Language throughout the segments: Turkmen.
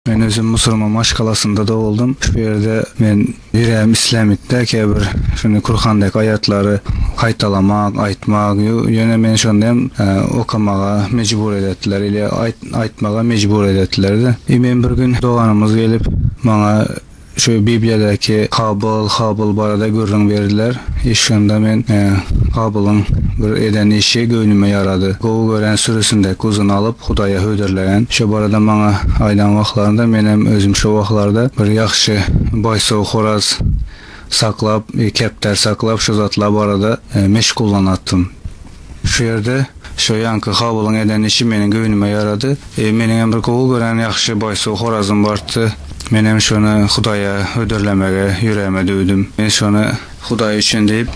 Men özüm musurman maşgalasynda doguldym. Şu ýerde men ýüregim islämikde käbir şuny Kurhandaky aýatlary gaýtalamak, aýtmak. Ýöne meni şonda hem okamaga mejbur edetdiler ile aýtmaga mejbur edetdiler-de. Men bir gün doganymyz gelip maňa. Şu Bibliýadaky Kabyl, Habyl barada gürrüň berdiler. Eşidende men Kabylyň bir eden işi göwnüme ýarady. Gowy gören sürüsindäki guzyny alyp, Hudaýa hödürleýän. Şo barada maňa aýdan wagtlarynda menem özüm şo wagtlarda bir ýagşy baýsaw horaz saklap, kepdar saklap, şo zatlar barada meşgullanatdym. Şu ýerde şo ýanky Habylyň eden işi meniň göwnüme ýarady. Meniňem bir gowy gören ýagşy boýsuz horazym bardy. Menem şony Hudaýa hödürlemegi ýüregime düwdüm. Men şony Hudaý üçin diýip,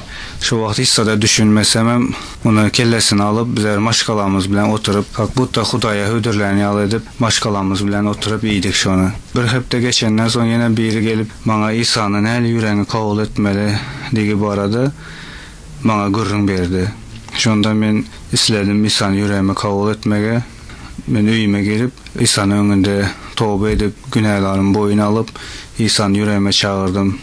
şo wagt hiç-zada düşünmesemem, muny kellesine alyp, bizler maşgalamyz bilen oturyp, kak butta Hudaýa hödürlän ýaly edip, maşgalamyz bilen oturyp iýdik şony. Bir hepde geçenden soň ýene biri gelip, maňa Isany näli ýüregiňi kabul etmeli digi barada maňa gürrüň berdi. Şonda men isledim Isany ýüregime kabul etmegi. Men öýüme girip, Isany öňünde toba edip, günälarym boýun alyp, Isany ýüregime çagyrdym.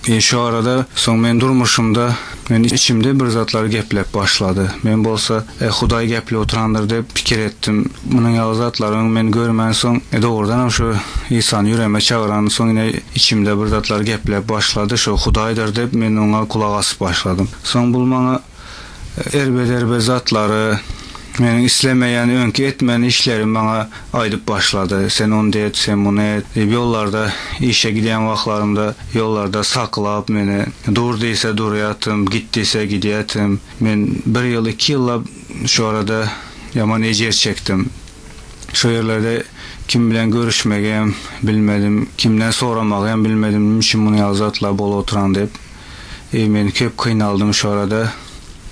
E şu arada soň men durmuşymda men içimde bir zatlar geplep başlady. Men bolsa Eh, Hudaý gepli oturandyr diýip pikir etdim. Munuň ýaly zatlaryň men görmänsoň, dogrudanam şu Isany ýüregime çagyran, soň ine içimde bir zatlar gepläp başlady, şu Hudaýdyr diýip men oňa gulak asyp başladym. Soň bul maňa erbederbe zatlary, meniň islemeýän öňki etmän işlerimi maňa aýdyp başlady. Sen ondy et, sen muny et diýip ýollarda işe gidýän wagtlarymda ýollarda saklap meni, dur diýse durýatym, git diýse gidýätim. Men bir ýyl, iki ýyllap şu arada ýaman ejir çekdim. Şo ýerlerde kim bilen görüşmegem bilmedim, kimden soramagam bilmedim, nime üçin muny ýaly zatlar bolup oturan diýip. Eý men köp kynaldym şu arada.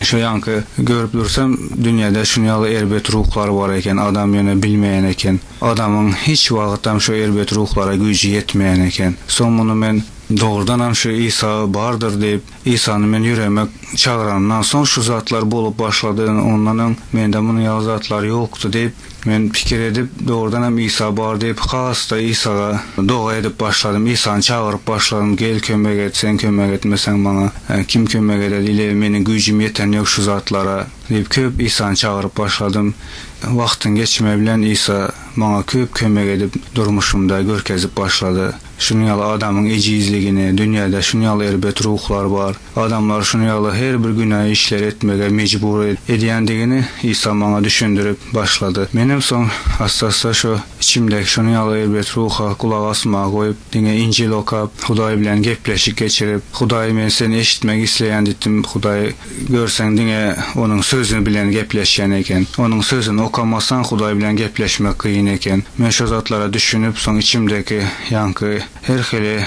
Şu ýanky görüp dursam dünýede şuny ýaly erbet ruhlar bar eken, adam ýöne bilmeýän eken. Adamyň hiç wagtam şu erbet ruhlara güýji ýetmeýän eken. Soň muny men dogrudanam şu Isa bardyr diýip Isany men ýüreme çagyranymdan soň şu zatlar bolup başlady, ondan öň mende munuň ýaly zatlar ýokdy diýip, men pikir edip, dogrudan hem Isa bar diýip, has-da Isaga doga edip başladym. Isany çagyryp başladym, Gel, kömek et, sen kömek etmeseň maňa kim kömek eder, ile meniň güýjüm ýeten ýok şu zatlara diýip, köp Isany çagyryp başladym. Wagtyň geçmegi bilen Isa maňa köp kömek edip, durmuşymda görkezip başlady. Şunuň ýaly adamyň ejizligini, dünýäde şunuň ýaly erbet ruhlar bar, adamlary şunuň ýaly her bir günä işleri etmäge mejbur edýändigini Isa maňa düşündirip başlady. Menem soň assa-assa şo içimdäki şunuň ýaly erbet ruha gulak asmagy goýup, diňe Injil okap, Hudaý bilen gepleşik geçirip, Hudaý men seni eşitmek isleýän diýdim, Hudaý, Görseň diňe onuň sözi bilen gepleşýän eken. Onuň sözüni okamasaň Hudaý bilen gepleşmek kyn eken. Men şo zatlara düşünip soň içimdeki ýaňky her hili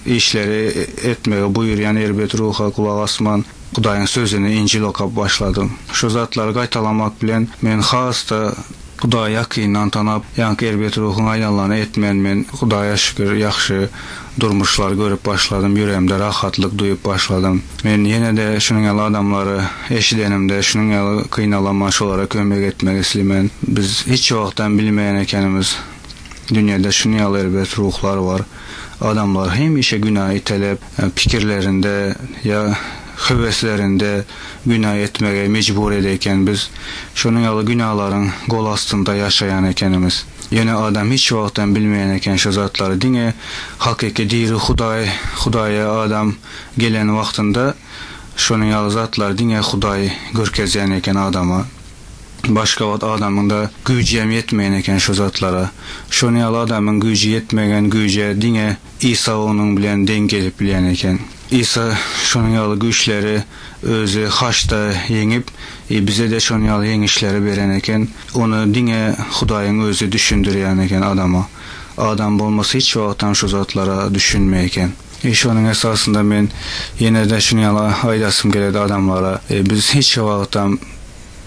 işleri etmegi buýurýan erbet ruha gulak asman Hudaýyň sözüni Injil okap başladym. Şo zatlary gaýtalamak bilen men has-da Hudaýy ýakyndan tanap, ýaňky erbet ruhuň aýlanlany etmän men, Hudaýa şükür, ýagşy durmuşlary görüp başladym, ýüregimde rahatlyk duýup başladym. Men ýene-de şunuň ýaly adamlary eşidenimde, şunuň ýaly gynalaman şolara kömek etmek islimen. Biz hiç wagtam bilmeýän ekenimiz, dünýede şunuň ýaly erbet ruhlar bar. Adamlar hemişe günä itelep, pikirlerinde ýa höweslerinde günä etmege mejbur ede eken biz şonuň ýaly günalaryň gol astynda ýaşaýan ekenimiz ýöne adam hiç wagtam bilmeýän eken şu zatlary diňe hakyky diri hudaý hudaýa adam gelen wagtynda şonuň ýaly zatlary diňe hudaý görkezýän eken adama başga wagt adamyňda güýjem ýetmeýän eken şu zatlara şonuň ýaly adamyň güýji ýetmegen güýje diňe Isa onuň bilen deň gelip bilýän eken. Isa şonuň ýaly güýçleri Özi haçda ýeňip, bize-de şonuň ýaly ýeňişleri beren eken. Ony diňe Hudaýyň Özi düşündirýän eken adama. Adam bolmasa hiç wagtam şu zatlara düşünmeý eken. Şonuň esasynda men ýene-de şuny ýaly aýdasym geledi adamlara, biz hiç wagtam.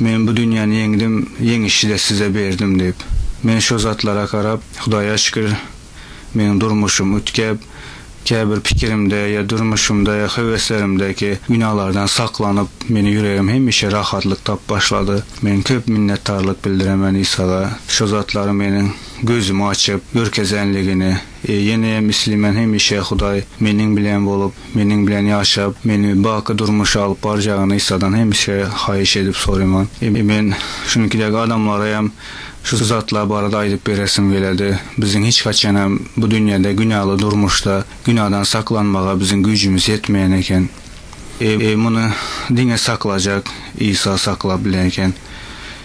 Men bu dünýäni ýeňdim, ýeňişi-de size berdim diýip. Men şo zatlara garap, Hudaýa şükür, meň durmuşym üýtgäp, käbir pikirimde ýa durmuşymda ýa höweslerimdäki günalardan saklanyp, meni ýüregim hemişe rahatlyk tap başlady. Men köp minnetdarlyk bildiremen Isaga, şo zatlary meniň gözümi açyp, görkezänligini. E, ýeneýem isleýmän hemişe Hudaý meniň bilen bolup, meniň bilen ýaşap, meni baky durmuşa alyp barjagyny Isadan hemişe haýyş edip soraýman. E, men şunuňky dek adamlara hem şu zatlar barada aýdyp beresim geledi. Biziň hiç haçan hem bu dünýede günäli durmuşda günadan saklanmaga biziň güýjümiz ýetmeýän eken. E, muny diňe saklajak Isa saklap bilen eken.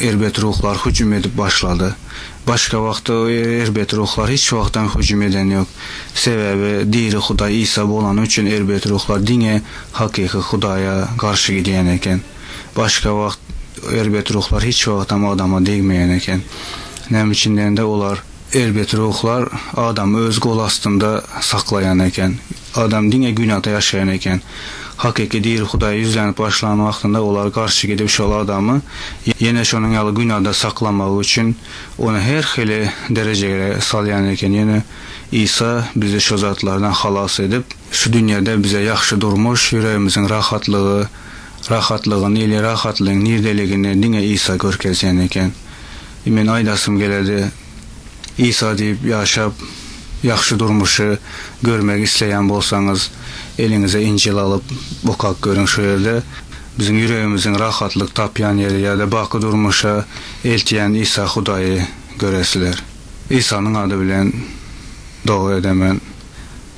Erbet ruhlar hüjüm edip başlady. Başga wagt erbet ruhlar hiç wagtam hüjüm eden ýok. Sebäbi diri Hudaý Isa bolany üçin erbet ruhlar diňe hakyky Hudaýa garşy gidýän eken. Başga wagt erbet ruhlar hiç wagtam adama degmeýän eken. Näme üçin diýende olar. Erbet ruhlar adamy öz gol astynda saklaýan eken. Adam diňe günada ýaşaýan eken. Hakyky diri Hudaýa ýüzlenip başlan wagtynda olar garşy gidip şol adamy ýene şonuň ýaly günada saklamagy üçin ony her hili derejegre salýan eken ýöne Isa bizi şo zatlardan halas edip, şu dünýede bize ýahşy durmuş, ýüregimiziň rahatlygy, rahatlygyny ili rahatlygyň niredeligini diňe Isa görkezýän eken. Men aýdasym geledi. Isa diýip ýaşap, ýagşy durmuşy görmegi isleýän bolsaňyz, eliňize Injil alyp, okap görüň. Şu ýerde biziň ýüregimiziň rahatlyk tapýan ýeri ýa-da baky durmuşa eltýän Isa Hudaýy göresizler. Isanyň ady bilen doga edemen,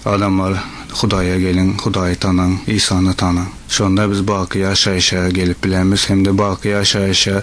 adamlar, Hudaýa geliň, Hudaýy tanaň, Isany tanaň. Şonda biz baky ýaşaýşa gelip bilermiz hem-de baky ýaşaýşa